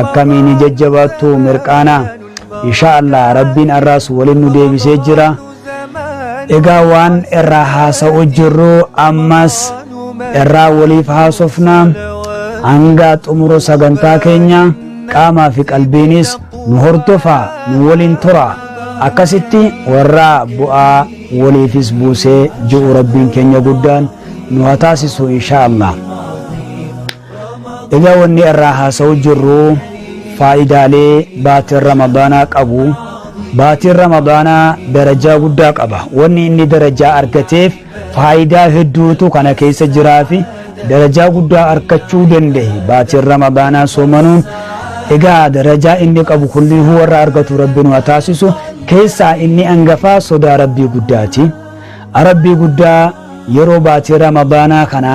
akkamiin jajjabaattu mirqaana insha Allah rabbiin arraas waliin nu deebisee jira egaa waan irraa haasa'u jirru ammas irraa waliif haasofna hanga xumura sagantaa keenya qaamaa fi qalbiinis nu hordofa nu waliin tura akkasitti warra bu'aa waliifis buusee ji'u rabbiin keenya guddaan nu haa taasisu insha Allah. Egaa wanni irraa haasa'uu jirru faayidaalee baatiin Ramadaanaa qabu. Baatiin Ramadaanaa darajaa guddaa qaba. Wanni inni darajaa argateef faayidaa hedduutu kana keessa jiraafi darajaa guddaa arkachuu danda'e baatiin Ramadaanaa soomanuun. Egaa darajaa inni qabu kullihuu warra argatu Rabbi nu haa taasisu. Keessaa inni angafaa sodaa Rabbii guddaati. A Rabbii guddaa yeroo baatii Ramadaanaa kana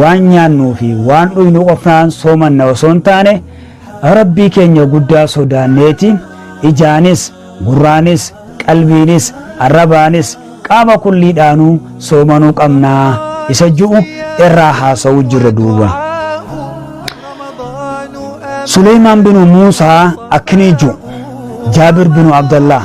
waan nyaannuu fi waan dhuynu qofaan soomanna osoo hin taane, Rabbii keenya guddaa sodaanneeti, ijaanis, gurraanis, qalbiinis, arrabaanis, qaama kulliidhaanuu soomanuu qabna isa ju'u irraa haasawuu jirra duuba. Suleymaan binu Muusaa akkinii ju'u, Jaabir binu Abdallaah.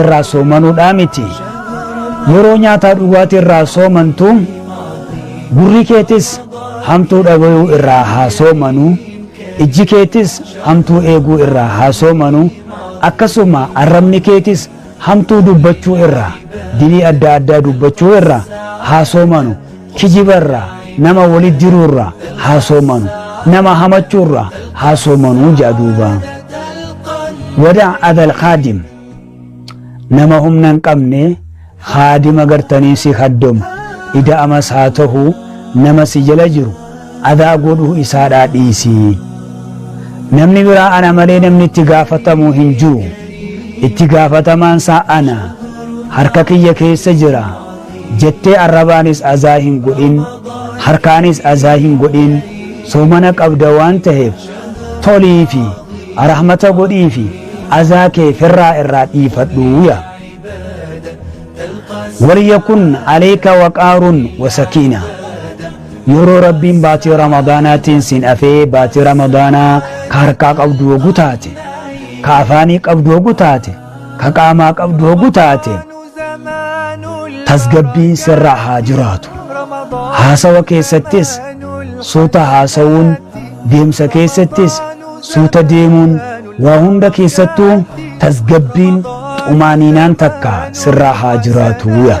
irraa soomanuudhaa miti. Yeroo nyaataa dhugaatii irraa soomantu gurri keetis hamtuu dhagayuu irraa haa soomanu, ijji keetis hamtuu eeguu irraa haa soomanu, akkasuma arrabni keetis hamtuu dubbachuu irraa, dilii adda addaa dubbachuu irraa haa soomanu. Kijiba irraa, nama wali diruu irraa haa soomanu, nama hamachuu irraa haa soomanu ja'a duuba. Wada adal khaadim Nama humna hin qabne khaadima gartanii si khaddomu ida'amas haa tahu nama si jala jiru adaa godhuu isaadhaa dhiisi. Namni biraa ana malee namni itti gaafatamu hin jiru. Itti gaafatamaan isaa ana. Harka kiyya keessa jira. jettee arrabaanis azaa hin godhin harkaanis azaa hin godhin soomana qabda waan taheef toliifi rahmata godhiifi azaa kee firraa irraa dhiifadhu ya waliyakun aleyka waqaarun wasakiina yeroo rabbiin baatii ramadaanaatiin sin afee baatii ramadaanaa ka harkaa qabdu hogu taate ka afaanii qabdu hogu taate ka qaamaa qabdu hogu taate tasgabbiin sirra haa jiraatu haasawa keessattis suuta haasawuun deemsa keessattis suuta deemuun waa hunda keessattuu tasgabbiin xumaaniinaan takka sirraa haa jiraatu yaa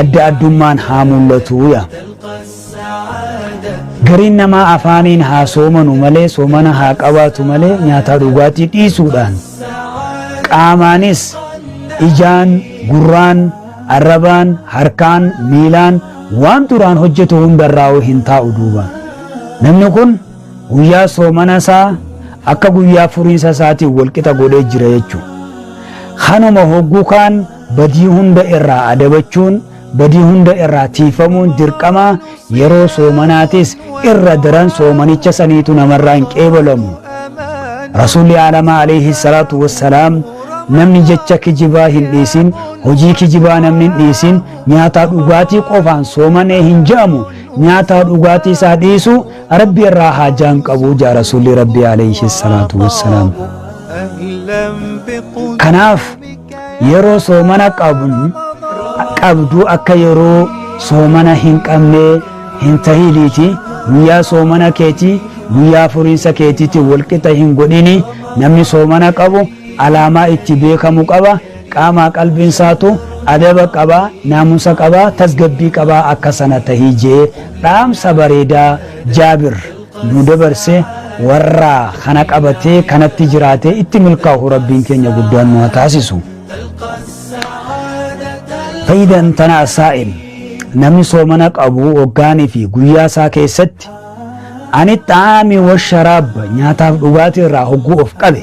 adda addummaan haa mul'atu ya. Gariin namaa afaaniin haa soomanu malee soomana haa qabaatu malee nyaataa dhugaatii dhiisuudhaan qaamaanis ijaan, gurraan, arrabaan, harkaan, miilaan waan duraan hojjetu hundarraa'uu hin taa'u duuba. Namni kun guyyaa soomana isaa akka guyyaa furiinsa isaatiin walqixa godhee jira jechuudha. Kanuma hogguu kaan Badii hunda irraa adabachuun, badii hunda irraa tiiyfamuun dirqama, yeroo soomanaatis irra daran soomanicha saniitu namarraa hin qeebalamu. Rasuulli Aalamaa Aleeyhi Salaatu Wassalaam Namni jecha kijibaa hin dhiisin, hojii kijibaa namni hin dhiisin, nyaataa dhugaatii qofaan soomane hin je'amu, nyaataa dhugaatii isaa dhiisu Rabbi irraa haajaa hin qabu je'a Rasuulli Rabbii Aleeyhi Salaatu Wassalaam. Kanaaf, yeroo soomana qabnu qabduu akka yeroo soomana hin qabnee hin tahiniiti guyyaa soomana keetii guyyaa furiinsa keetiitti walqixa hin godhini namni soomana qabu alaamaa itti beekamu qaba qaamaa qalbiin isaatu adaba qaba naamusa qaba tasgabbii qaba akka sana tahii jee dhaamsa bareedaa jaabir nu dabarse warra kana qabatee kanatti jiraatee itti milkaa'u rabbiin keenya guddaan nu haa taasisu. Fayyidaan tana asaa'im namni soomana qabu hoggaanii fi guyyaa isaa keessatti ani xaa'aamii washaraab nyaataaf dhugaatii irraa hogguu of qabe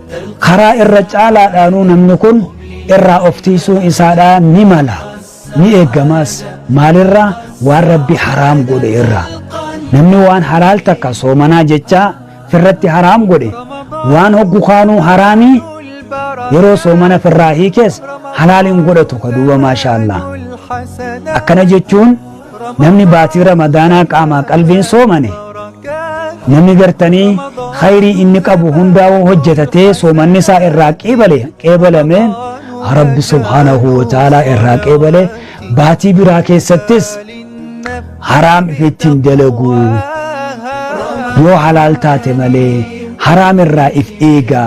Karaa irra caalaadhaanuu namni kun irraa of tiisuun isaadhaa ni mala, ni eeggamaas. Maalirraa? Waan Rabbi haraam godhe irraa. Namni waan halaal takka soomanaa jechaa firratti haraam godhe, waan hoggu kaanuu haraamii yeroo soomana firraa hiikees halaal hin godhatu ka duuba maashaallah. Akkana jechuun Namni baatii Ramadaanaa qaamaa qalbiin soomane namni gartanii khayrii inni qabu hundaa hoo hojjetatee soomanni isaa irraa qeebale qeebalame Rabbi subhaanahu wa ta'aalaa irraa qeebale baatii biraa keessattis haraam ifitti hin dalagu yoo halaal taate malee haraam irraa if eega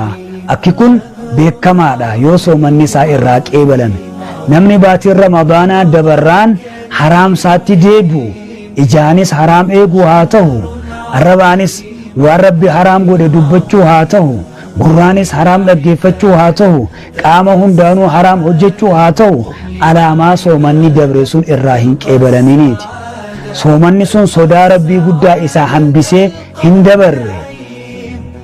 akki kun beekamaadha yoo soomanni isaa irraa qeebalame namni baatiin Ramadaanaa dabarraan haraam saatti deebi'u, ijaanis haraam eeguu haa tahu, arrabaanis waan Rabbi haraam godhe dubbachuu haa tahu, gurraanis haraam dhaggeeffachuu haa tahu, qaama hundaanuu haraam hojjachuu haa tahu, alaamaa soomanni dabre sun irraa hin qeebalaminiiti. Soomanni sun sodaa Rabbii guddaa isa hambisee hin dabarre.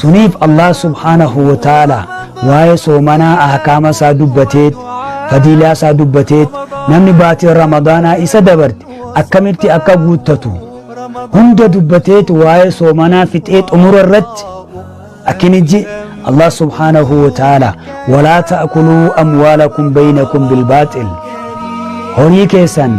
suniif allah subhaanahu wa ta'aala waa'ee soomanaa ahkaama isaa dubbateet fadiilaa isaa dubbateet namni baatiin ramadaanaa isa dabarte akkamitti akka guuttatu hunda dubbateet waa'ee soomanaa fixee xumura irratti akkini ji allah subhaanahu wa ta'aala walaa ta'kuluu amwaalakum baynakum bilbaaxil horii keessan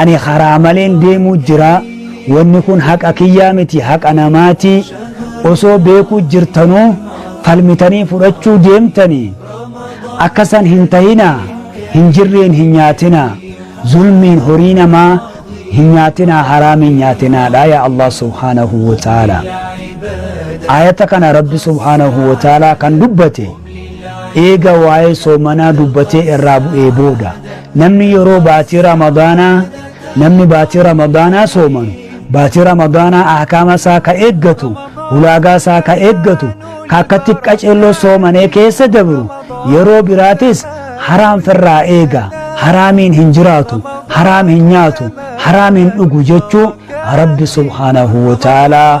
Ani karaa maleen deemuu jira, wanni kun haqa kiyyaa miti haqa namaati, osoo beekuu jirtanuu falmitanii fudhachuu deemtanii, akka san hin tahinaa, hin jirreen hin nyaatinaa, zulmiin horii namaa hin nyaatinaa haraamiin nyaatinaadha yaa Allah subhaanahu wa ta'aala. Aayata kana Rabbi subhaanahu wa ta'aala kan dubbate. Eega waa'ee soomanaa dubbatee irraa bu'ee booda, namni yeroo baatii Ramadaanaa, namni baatii Ramadaanaa soomanu, baatii Ramadaanaa ahkaama isaa ka eeggatu, ulaagaa isaa ka eeggatu, ka akkatti qaceelloo soomanee keessa dabru, yeroo biraatis haraam firraa eega, haraamiin hin jiraatu, haraam hin nyaatu, haraam hin dhugu jechuu Rabbi subhaanahu wa ta'aalaa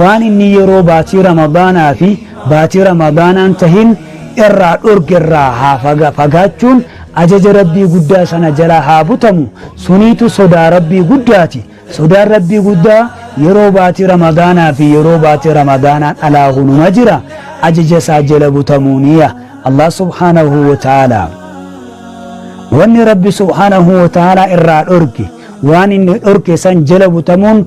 waan inni yeroo baatii ramadaanaa fi baatii ramadaanaa hin tahin irraa dhorge irraa haa fagaachuun ajaja rabbii guddaa sana jalaa haa butamu suniitu sodaa rabbii guddaati sodaan rabbii guddaa yeroo baatii ramadaanaa fi yeroo baatii ramadaanaan alaa hunuma jira ajaja isaa jala butamuu niya allah subhaanahu wa ta'aalaa wanni rabbi subhaanahu wa ta'aalaa irraa dhorge waan inni dhorke san jala butamuun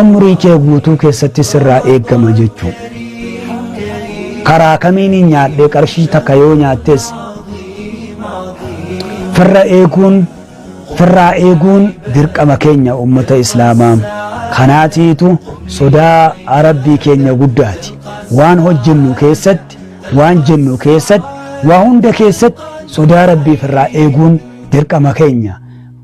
Umrii kee guutuu keessatti sirraa eegama jechuu. Karaa kamiinin nyaadhee qarshii takka yoo nyaattes firra eeguun firraa eeguun dirqama keenya ummata islaamaa kanaatiitu sodaa rabbii keenya guddaati waan hojjennu keessatti waan jennu keessatti waa hunda keessatti sodaa rabbii firraa eeguun dirqama keenya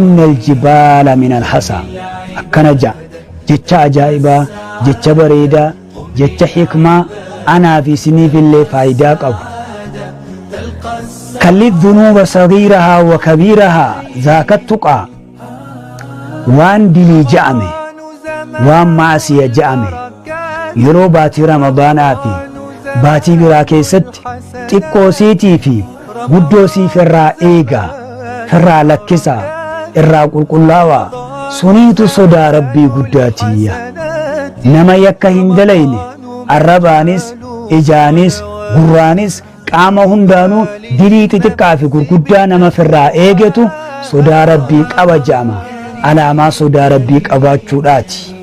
inna aljibaala min alhasaa akkana ja'a jecha ajaa'ibaa jecha bareedaa jecha hikmaa anaaf isiniifillee faayidaa qabu kalli dhunuuba sagiirahaa wa kabiirahaa zaakattuqaa waan dilii ja'ame waan maasiya ja'ame yeroo baatii ramadaanaa fi baatii biraa keessatti xiqqoo siitii fi guddoo siif irraa eega firraa lakkisa irraa qulqullaawa suniitu sodaa rabbii guddaa tiyya nama yakka hin dalayne arrabaanis ijaanis gurraanis qaama hundaanuu dilii xixiqqaa fi gurguddaa nama firraa eegetu sodaa rabbii qaba ja'ama alaamaa sodaa rabbii qabaachuudhaati.